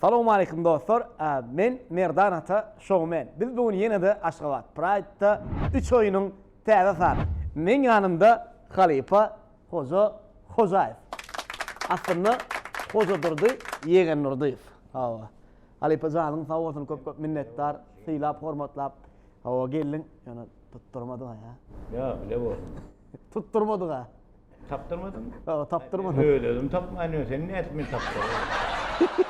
Salowmaleýkim dostlar men Merdan ata showmen biz bu gün ýenede Aşgabat Praýdda üç oýunyň täze sany meň ýanymda halypa Hoja Hojaýew aslynda Hojadurdy Ýegendurdyýew hawa halypa janyň sag bolsun köp köp minnetdar sylap hormatlap hawa geldiň ýöne tutdyrmadyga ýa. Ýa bile bolsun. Tutdyrmadyga. Tapdyrmadym. Ýa, tapdyrmadym. Öz özüm tapman ýörün, sen nädip meni tapdyraýaň?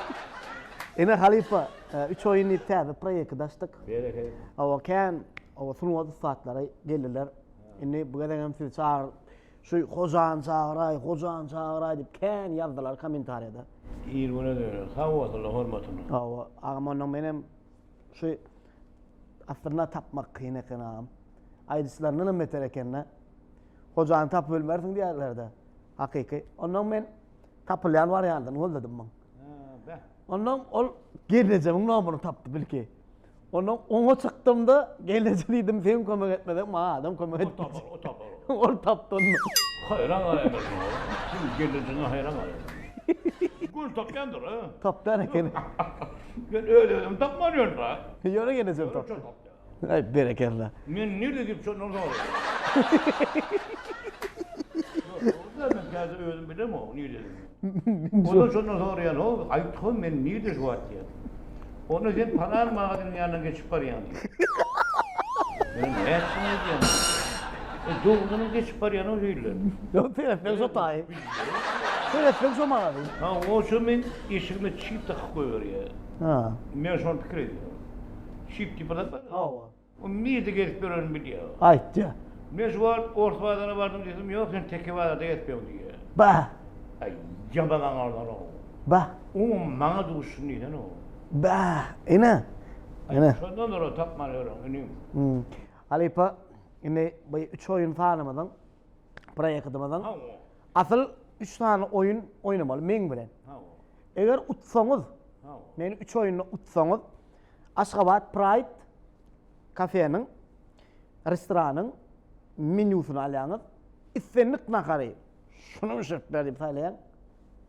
Ine halypa, üç oýun diýip täze proýekti açdyk. Berekella. Hawa, kän hawa sungat ussatlary geldiler. Indi bu gezek hem sizi çagyr, şu hojany çagyraý, hojany çagyraý diýip kän ýazdylar kommentariýada. Ir güne döner. Sag bolsunlar, hormatyna. Hawa, agam onda men hem şu aslynda tapmak kyn eken agam. Aýdyşlaryndan hem beter eken-de. Hojany tapyp ölmersiň diýerler-de, hakyky. Onnoň men tapylýan wariantyny golladym muň. Onnoň ol gelnejemiň nomuny tapdy bilki. Onnoň oňa çykdym-da, gelneje diýdim, sen kömek etmeseň maňa adam kömek etmez. O tapar, o tapar. Ol tapdy onnoň. Haýran galýan şoňa. Seň gelnejene haýran galýan. Göni tapýandyr, a? Tapýan ekeni. Men öz-özümi tapman ýörün-dä. Ýöne gelnejemi tapdy. Aý berekella. Men nirde gidip çöndüm soň. Ýok dogrudan men käte özüm bilemok niredigini. Ondan şondan soraýan o aýtgyn men nirde şu wagt diýen. Onda sen palan magaziniň ýanyndan geçip barýaň diýen. Men nätsin aýdýan. E dogrudanam geçip barýan o hille. Ýok seretseň şo taýy. Seretseň şo magazin. Ha oçem men eşigime çip dakyp goýberýär. Ha. Men şony pikir edýän. Şyp diýip adam bar. Hawa. O mizde gezip ýörenini bilýär. Aýtýa. Men şu wagt ors bazaryna bardym diýsem, ýok sen teke bazarda gezip ýör diýýä. Bah! Aý, ýaman aňardan-ow. Bah! Oňam maňa duşsun diýsene-ow. Bah! Ine! Ine! Şondan doly tapman ýörüň, inim. Hum. Halypa, indi bu üç oýun sanymyzyň, proýektimiziň, Hawa. asyl üç sany oýun oýnamaly meň bilen. Hawa. Eger utsaňyz, meni üç oýunda utsaňyz, Aşgabat Praýd kafeniň, restoranyň menýusyny alýaňyz, islendik nahary şuny bişirip ber diýip saýlaýaň,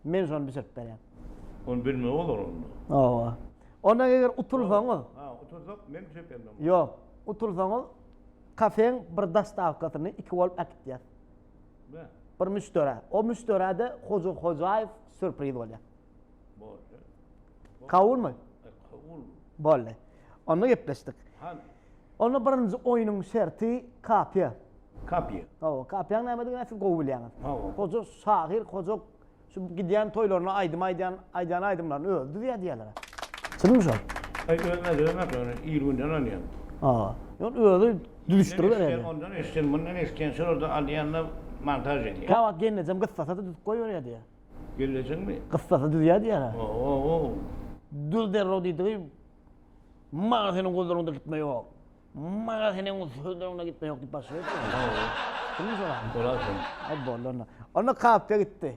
men şony bişirip berýän. Ony bilmeli bolar onda. Hawa. Onda eger utulsaňyz. Ha, utulsak men bişirip bermeli. Ýok, utulsaňyz kafeň bir dostawkasyny iki bolup äkitýär. Bir müşderä. O müşderäde Hoja Hojaýew sürpriz bolýar. Boldy. Kabulmy? E, kabul. Boldy. Onda gepleşdik. Hany? Onda birinji oýnuň şerti kapiýa. Kapiýa. Hawa, kapiýaň nämedigini siz gowy bilýäňiz. Hawa. Hoja şahyr, hoja Şu gidýän toýlaryna aýdym aýdýan, aýdýan aýdymlaryny özi düzýär diýýärler-ä. Çynmy şol? Aý özüne döwmek ýöne il günden alýan. A. Ýöne özi düzüşdiriberýär diýýär. Ondan eşitsen, mundan eşitýän, şulardan alýan-da montaž edýär. Käwagt gelnejem gyssata-da düzüp goýberýär diýýär. Gelnejeňmi? Gyssata düzýär diýýär-ä. O-o-ow. Düz derrew diýdigi, Maňa seniň guzuryňda gitme ýok. Maňa sen öň sözüň öňüne gitme ýok diýip başlaýar ekeni. Hawa. Kimden soraryn? Sorarsyň. Hop boldy onda. Onda kapka gitdi.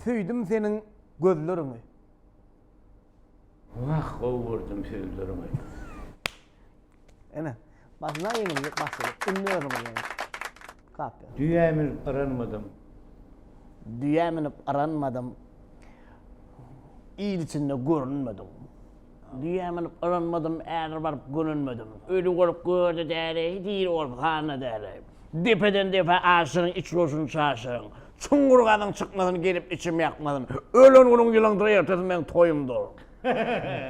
Söýdüm seniň gözleriňi. Wah gowy gördüm sözleriňi. Ene, başyna iýmir diýip başladyk. Indi özüňiz ýeňiň. Kapýa. Düýä münüp yranmadym. Düýä münüp yranmadym. Il içinde görünmedim. Düýä münüp yranmadym, ädir baryp gönünmedim. Öli bolup görde däri, diri bolup handa däri. Depeden depe aşyň, iç goşun çaşyň. Çuňňur gazyň çykmasyn, gelip içim ýakmasyn. Ölen günüň ýylyňdyr, ertesi meň toýumdyr.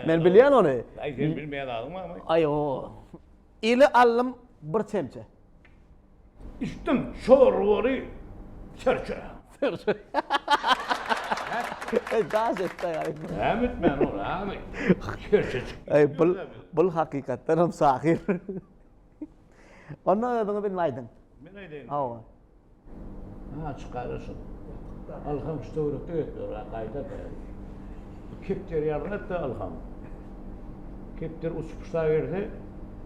Men bilýän ony. Aý sen bilmeýän zadyň barmy? Aý o. Ili aldym bir çemçe. Içdim şorbaly serçe. Serçe. Eý daş etdi aý. Näme etmän ol aý. Serçe çykdy. Aý bul bul hakykatdan hem şahyr. Onda özüňe bilme aýdyň. Men aýdaýyn. Hawa. Ha çykara şu. Alham şu töwrekde ötler ha gaýda da. Bu kepder ýalyň et da alham. Kepder uçup puşta gelse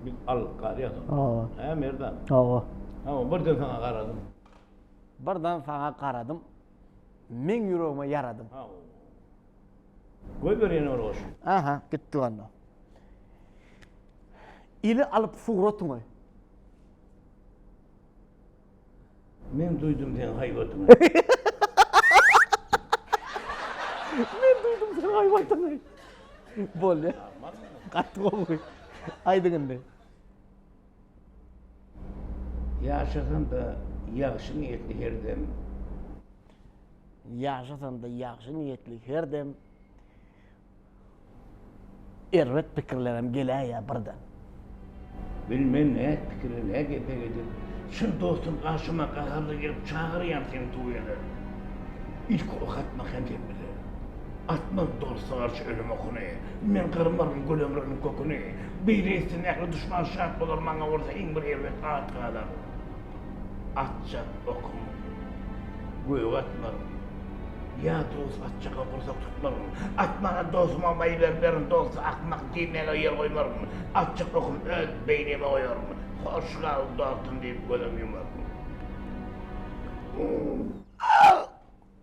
biz alyp galýas onu. Hawa. Ha merdan. Hawa. Hawa birden saňa garadym. Birden saňa garadym. Meň ýüregime ýaradym. Hawa. Goýber ýene bir goşgy. Aha, gitdik onda. Ili alyp suratyňy. Men duýdum seň haýbatyňy. Men duýdum seň haýbatyňy. Bolýa. Gaty gowy. Aýdyň indi. Ýaşasam-da ýagşy niýetli her dem. Ýaşasam-da ýagşy niýetli her dem. Erbet pikirlerem geläýýär birden. Bilmen näet pikire nä gepe gidip. Çyn dostum garşyma gaharly gelip çagyrýam seni tuwele. Ilki ok atmak hem sepgide. Atmaz dosta garşy ölüm okuny. Men gyrmaryn gül ömrüniň köküni. Beýle etsin, ähli duşman şat bolar, maňa bolsa iň bir erbet at galar. Atja okum gök atlaryn. Ýa dost atjaka gursak tutmaryn. Atmana dostuma maý bermerin, dosta akmak diýmäge ýer goýmaryn. Atjak okum öz beýnime goýaryn. Hoş gal, dostum diýip gözüm ýumaryn.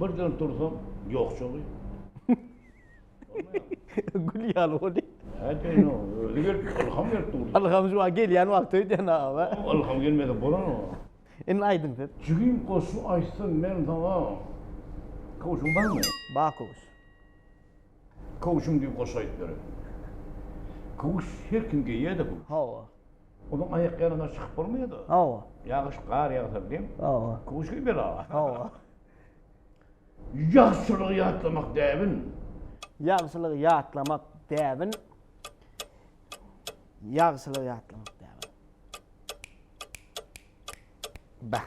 Birden tursam, ýok çogy. Gül ýaly boldy. Häteýno, özi gelip, ylham berip durdy. Ylham şu wagt gelýän wagty öýdýän aga. Ylham gelmese bolanok. Indi aýdyň siz. Jigim goşgy aýtsam men saňa kowşum barmy? Bar kowşum. Köwşüm diýip goşgy aýdyp ýören. Köwüş her kim geýýä-de bu. Hawa. Onuň aýakýalana çykyp bolmaýa-da. Hawa. Ýagyş, gar ýagsa bilen. Hawa. Köwüş geý bela. Hawa. Ýagşylygy ýatlamak däbin. Ýagşylygy ýatlamak däbin. Ýagşylygy ýatlamak däbin. Bäh.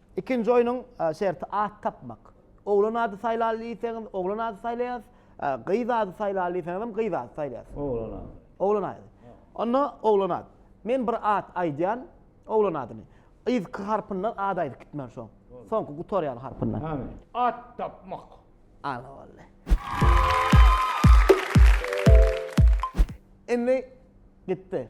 Ikinji oýnuň şerti at tapmak. Oglan ady saýlaly diýseňiz, oglan ady saýlaýas, gyz ady saýlaly diýseňizem gyz ady saýlaýas. Oglan ady. Oglan ady. Onda oglan ady. Men bir at aýdýan, oglan adyny. Yzky harpyndan at aýdyp gitmeli soň. Soňky gutarýan harpyndan. Hany. At tapmak. Ana boldy. Indi gitdi.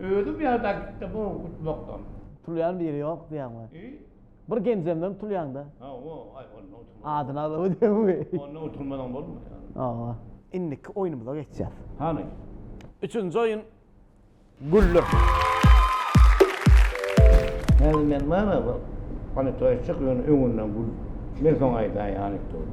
Özüm ýada gitdim o utmakdan. Tulýan biri ýok diýýäňmi? Bir genjemden tulýaňda. Adyny alyp diýýäňmi? Onda utulmadan bolmaýar. Indiki oýnumyza geçýäs. Hany. Üçünji oýun Güller. Häzir men bana bir panetoýa çyk ýöne öňünden gül. Men soň aýdaýyn anekdoty.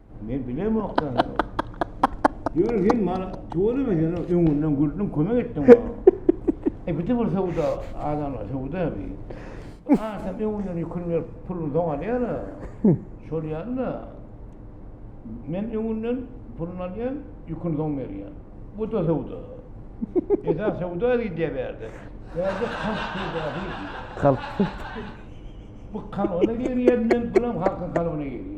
Men bilemok sen. Ýöne sen bana tuweleme sen öňünden güldüň, kömek etdiň bana. E bir de bir söwda adamlar söwda bi. Ha sen öňünden ýükün berip puluny soň alýar. Şol ýaly Men öňünden puluny alýan, ýükün soň berýän. Bu da söwda. Eda söwda diýdi berde. Berde kalp söwda diýdi. Kalp. Bu kalbyna girýän men, bulam halkyň kalbyna girýän.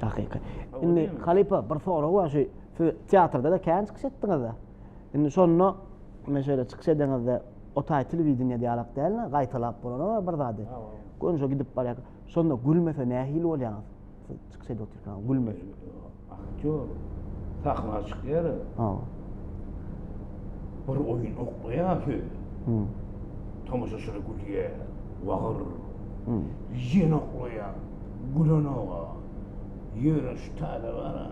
Takyky. Indi halypa bir sorag bar şu siz teatrda-da kän çykyş etdiňiz-de. Indi şonda men şeýle çykyş edeňizde o taý telewideniýe diýalak däl-de gaýtalap bolany bar bir zady. Gönüje gidip barýarka şonda gülmese nähili bolýaňyz? Siz çykyş edip otyrkaňyz gülmese. Aktýor sahna çykýar-a. Hawa. Bir oýun oklaýar söz. Hum. Tomaşaçylar gülýär. Wagyr. Hum. Ýene oklaýar. Gülenoga ýöreş taze bara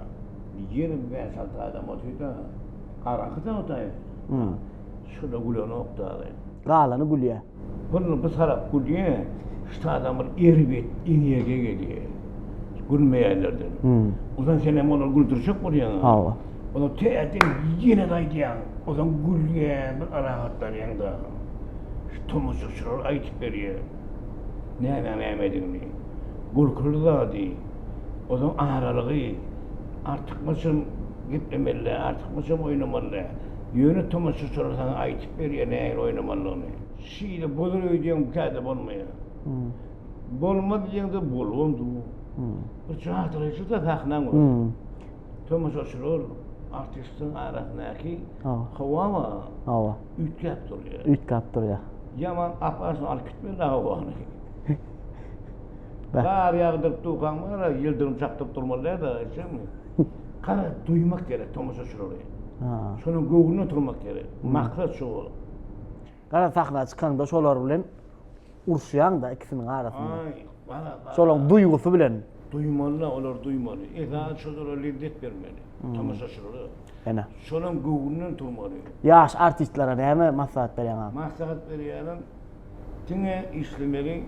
ýigrimi bäş alty adam otyrda araky dagdaý şoda gülenok dagy. Galany gülýä. Pyrly bir tarap gülýä ştadan bir erbet energiýa gelýä gülmeýänlerden. Ozan senem olary güldürjek bolýaň. Hawa. Ozan täzeden ýene-de aýdýaň. Ozan gülýäň bir arahatlanýaň dagy. Şu tomaşaçylar aýdyp berýä. Nämäň nämedigini. Gülküli zady, ozaň aralygy. Artykmaçam geplemeli däl, artykmaçam oýnamaly däl. Ýöne tomaşaçylar saňa aýdyp berýär nähili oýnamalydygyny. Şeýle bolar öýdýäňmi, käte bolmaýar. Bolmaz diýseň-de bolubam dur. Bir çatrykçy-da sahnaň özi. Tomaşaçylar, artistiň arasyndaky howa bar. Üýtgäp durýa. Üýtgäp durýa. Ýaman aparşyn alyp gitme dagy ony. Gar ýagdyryp dukan bar, ýyldyrym çakdyryp durmaly däl dagy eşitjekmi? Gara duýmak gerek tomaşaçylary. Şonuň göwnüne oturmak gerek. Maksat şu bolup. Gara sahna çykanda şolar bilen Uruşýaň-da ikisiniň arasynda. Aý, bara-bara. Şolaň duýgusy bilen. Duýmaly-la, olar duýmaly. Esasy şol zada lezzet bermeli tomaşaçylara. Ene. Şolaň göwnünden turmaly. Ýaş artistlere näme maslahat berýäň agam? Maslahat berýänim, diňe işlemeli,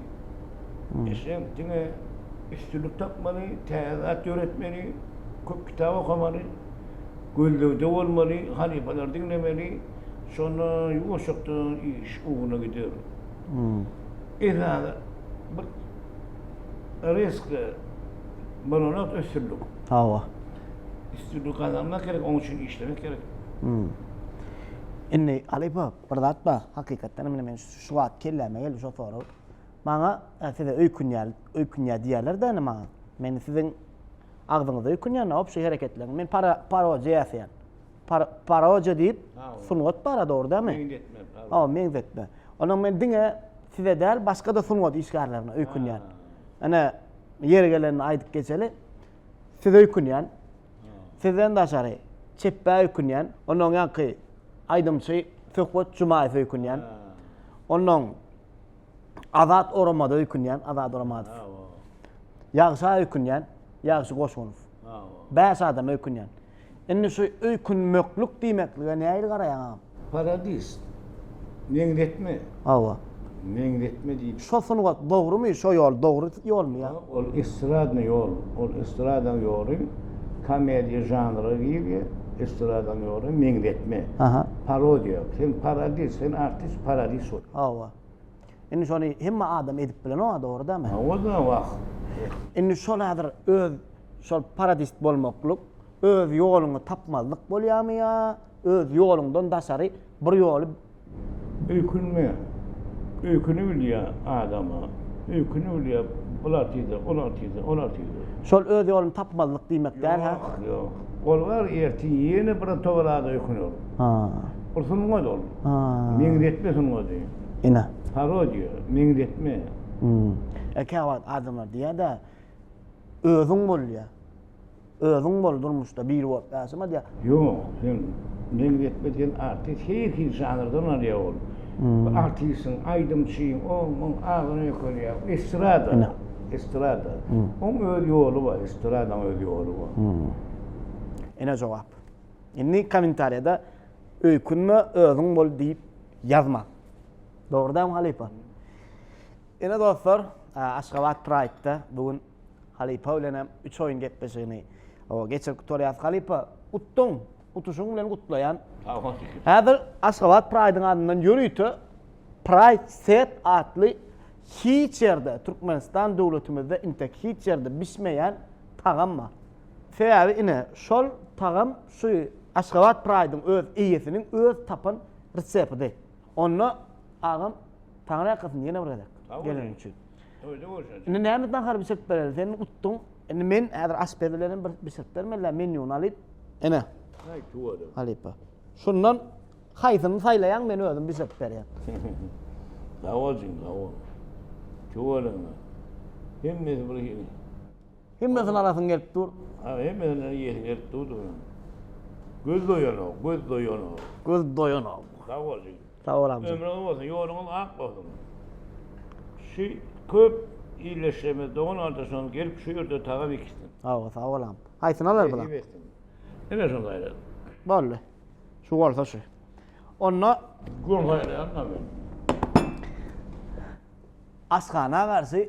eşedim, diňe üstünlik tapmaly, täze zat döretmeli, köp kitap okamaly, gözlegde bolmaly, halypalary diňlemeli, şonda ýuwaşjakdan iş ugruna gider. Esasy bir riskli bolan zat üstünlik. Hawa. Üstünlik gazanmak gerek, onuň üçin işlemek gerek. Indi halypa bir zat bar, hakykatdanam indi men şu wagt kelläme geldi şo sorag. Maňa size öýkünýär, öýkünýär diýýärler-de indi maňa. Men siziň agzyňyza öýkünýän-ä, wobşe hereketleriňiz. Men para, para ýasaýan. paroja diýip sungat bar dogrydymy? Meňzetme. Ha, meňzetme. Onda men diňe size däl, başga da sungat işgärlerine öýkünýän. Ana ýeri gelende aýdyp geçeli. Siz öýkünýän. Sizden daşary çepbe öýkünýän. Ondan ýaňky aýdymçy Söhbet Jumaýew öýkünýän. Ondan Azat Oramada öýkünýän, Azat Oramadow. Ýagşa öýkünýän, Ýagşy Goşunow. Bäş adam öýkünýän. Indi şu öýkünmeklik diýmeklige nähili garaýaň agam? Paradis. Meňzetme. Hawa. Meňzetme diýip. Şo sungat dogrumy, şo ýol dogry ýolmy ýa? Ol estradny ýol, ol estradaň ýoly komediýa žanra girýä, estradaň ýoly meňzetme, parodiýa. Sen paradis, sen artist, paradis bol. Hawa. Indi şony hemme adam edip bilenok-a, dogry dämi? Hawa-da, wah. Indi şol häzir öz şol parodist bolmaklyk, öz ýoluňy tapmazlyk bolýarmy ýa öz ýoluňdan daşary bir ýoly. Öýkünme. Öýküni bilýär adam-a. Öýküni bilýär, bular tize, olar tize, olar tize. Şol öz ýoluny tapmazlyk diýmek däl, hä? Ýok, ýok. Ol bar, ertir ýene bir togalada öýküner. Hä. Ol sungat ol. Hä. Meňzetme sungady. Ine. Parodiýa, meňzetme. Hmm. Käwagt adamlar diýýär-dä, Özüň bol diýýär. Özüň bol durmuşda, biri bolup ýaşama diýýär. Ýok, sen meňzetme diýen artist hil-hil žanrdan alýar ol. Bu artistiň, aýdymçyň, oň, muň agyryny öýkelýär. Bu estrada, estrada. Oň öz ýoly bar, estradaň öz ýoly bar. Hmm. Ine jogap. Indi kommentariýada. Öýkünme, özüň bol diýip ýazmak. Dogry dämi halypa? Ine dostlar, Aşgabat Pride-da bu gün halypa bilen hem üç oýun gepleşigini geçirip gutarýas. Halypa, utdyň. Utuşyň bilen gutlaýan. Sag bol. Häzir Aşgabat Pride-yň adyndan ýörite Pride Set atly hiç ýerde, Türkmenistan döwletimizde intek hiç ýerde bişmeýän tagam bar. Sebäbi ine şol tagam Şu Aşgabat Pride-yň öz eýesiniň öz tapan resepidi. Onda agam Taňry ýalkasyn ýene bir gezek geleniň üçin. Toýda görşeris. Indi näme nahar bişirip bereli? Sen utduň. Indi men häzir aşpez bilen hem bir bişirip bermelä menýuny alyp. Ene. Haý tüweleme. Halypa. Şundan haýsyny saýlaýaň men özüm bişirip berýän. Sag bol jigim sag bol. Tüweleme. Hemmesi bir hili. Hemmesini alasyň gelip dur. Hä, hemmesini iýesiň gelip durdy. Göz doýanok, göz doýanok. Göz doýanok. Sag bol jigim. Sag bol agam. Ömrüň uzak bolsun, ýoluňyz ak bolsun. Şu köp ildeşlerimiz, dogan-gardaşlarymyz gelip şu ýerde tagam ekişsin. Hawa, sag bol agam. Haýsyny alar bular? Nesip etsin. Ine şuny saýladyk. Boldy. Şu bolsa şu. Onda Gol saýlaýan-la men. Asgana garşy